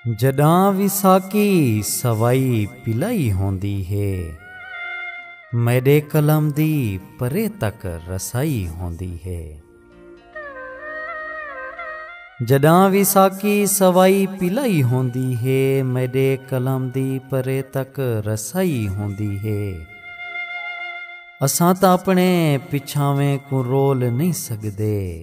جڈاں وساکی سوائی پلائی ہوندی ہے میڈے قلم دی پرے تک رسائی ہوندی ہے جڈاں وساکی سوائی پلائی ہوندی ہے میڈے قلم دی پرے تک رسائی ہوندی ہے اساں تا اپنے پچھاویں کو رول نہیں سکدے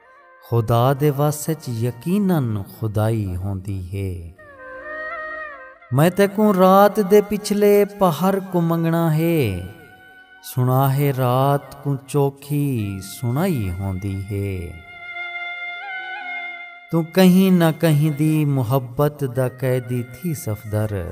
خدا دے وس اچ یقینا خدائی ہوندی ہے۔ میں تیکوں رات دے پچھلے پہر کوں منگنا ہے۔ سنا ہے رات کوں چوکھی سنائی ہوندی ہے۔ توں کہیں نہ کہیں دی محبت دا قیدی تھی سفدر۔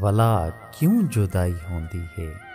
ولا کیوں جدائی ہوندی ہے۔